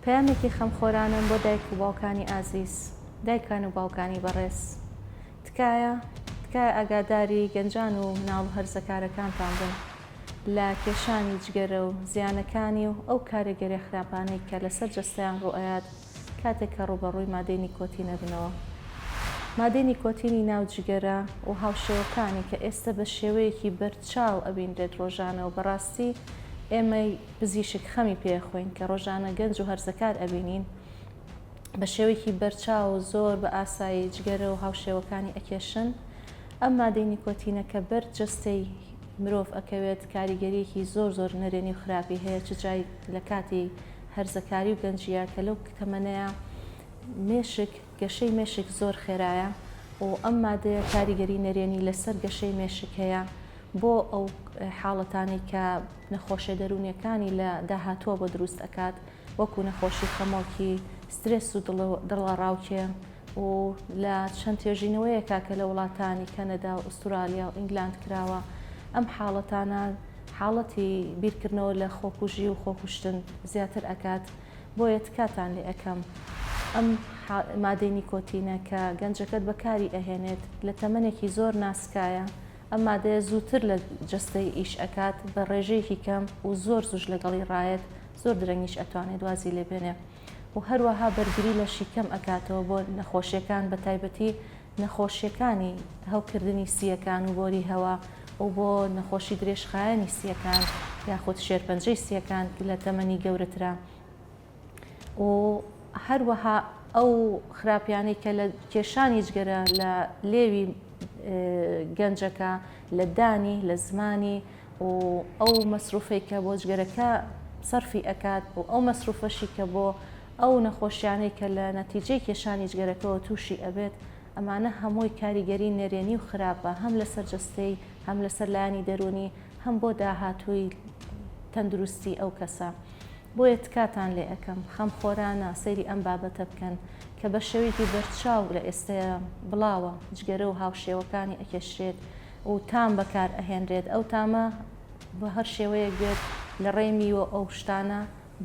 پەیامێکی خەمخۆرانەم بۆ دایک و باوکانی ئازیز. دایکان و باوکانی بەڕێز. تکایە، تکایە ئاگاداری گەنجان و مناڵ و هەرزەکارەکانتان بن لە کێشانی جگەرە و زیانەکانی و ئەو کارێگەرێ خراپانەی کە لەسەر جەستەیان ڕوئەیات کاتێک کە ڕوبەڕوی مادەی نیکۆتین ئەبنەوە. مادەی نیکۆتینی ناو جگەرە و هاوشێوەکانی کە ئێستە بە شێوەیەکی بەرچاو ئەبینرێت ڕۆژانە و بەڕاستی ئێمەی پزیشک خەمی پێ ئەخۆین کە ڕۆژانە گەنج و هەرزەکار ئەبینین بە شێوەیەکی بەرچاو و زۆر بە ئاسایی جگەرە و هاوشێوەکانی ئەکێشن، ئەم مادەی نیکۆتینە کە بەر جەستەی مرۆڤ ئەکەوێت کاریگەریەکی زۆر زۆر نەرێنی و خراپی هەیە چ جای لە کاتی هەرزەکاری و گەنجیە کە لەو تەمەنەیا مێشک گەشەی مێشک زۆر خێرایە و ئەم مادەیە کاریگەری نەرێنی لەسەر گەشەی مێشک هەیە بۆ ئەو حاڵەتانەی کە نەخۆشیە دەروونیەکانی لە داهاتووە بۆ دروست ئەکات وەکو نەخۆشی خەمۆکی، سترێس و دڵەڕاوکێ و لە چەند توێژینەوەیەکا کە لە وڵاتانی کەنەدا و ئوستورالیا و ئینگلاند کراوە ئەم حاڵەتانە حاڵەتی بیرکردنەوە لە خۆکوژی و خۆکوشتن زیاتر ئەکات بۆیە تکاتان لێ ئەکەم ئەم مادەی نیکۆتینە کە گەنجەکەت بەکاری ئەهێنێت لە تەمەنێکی زۆر ناسکایە ئەم مادەیە زووتر لە جەستەی ئیش ئەکات بە ڕێژەیەکی کەم و زۆر زوش لەگەڵی ڕایەت زۆر درەنگیش ئەتوانێت وازی لێبێنێ و هەروەها بەرگری لە شیکەم ئەکاتەوە بۆ نەخۆشیەکان بە تایبەتی نەخۆشیەکانی هەوکردنی سیەکان و بۆری هەوا و بۆ نەخۆشی درێژخایەنی سیەکان یاخود شێرپەنجەی سیەکان لە تەمەنی گەورەترا و هەروەها ئەو خراپیانەی کە لە کێشانی جگەرە لە لێوی گەنجەکە، لە دانی، لە زمانی و ئەو مەسروفەی کە بۆ جگەرەکە سەرفی ئەکات و ئەو مەسروفەشی کە بۆ ئەو نەخۆشیانەی کە لە نەتیجەی کێشانی جگەرەکەوە تووشی ئەبێت، ئەمانە هەمووی کاریگەری نەرێنی و خراپە هەم لەسەر جەستەی، هەم لەسەر لایەنی دەروونی، هەم بۆ داهاتووی تەندروستی ئەو کەسە. بۆیە تکاتان لێ ئەکەم خەم خۆرانە سەیری ئەم بابەتە بکەن کە بە شێوەیەکی بەرچاو لە ئێستەیە بڵاوە جگەرە و هاوشێوەکانی ئەکێشرێت و تام بەکار ئەهێنرێت ئەو تامە بە هەر شێوەیەک بێت لە ڕێی میوە ئەو شتانە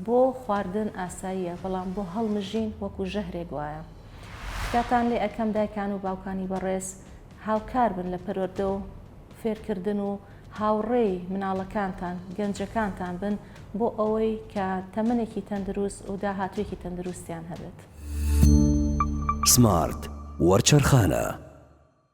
بۆ خواردن ئاساییە بەڵام بۆ هەڵمژین وەکو ژەهرێک وایە تکاتان لێ ئەکەم دایکان و باوکانی بەڕێز هاوکار بن لە پەروەردە و فێرکردن و هاوڕێی مناڵەکانتان، گەنجەکانتان بن بۆ ئەوەی کە تەمەنێکی تەندروست و داهاتووێکی تەندروستیان هەبێت. سمارت وەرچەرخانە.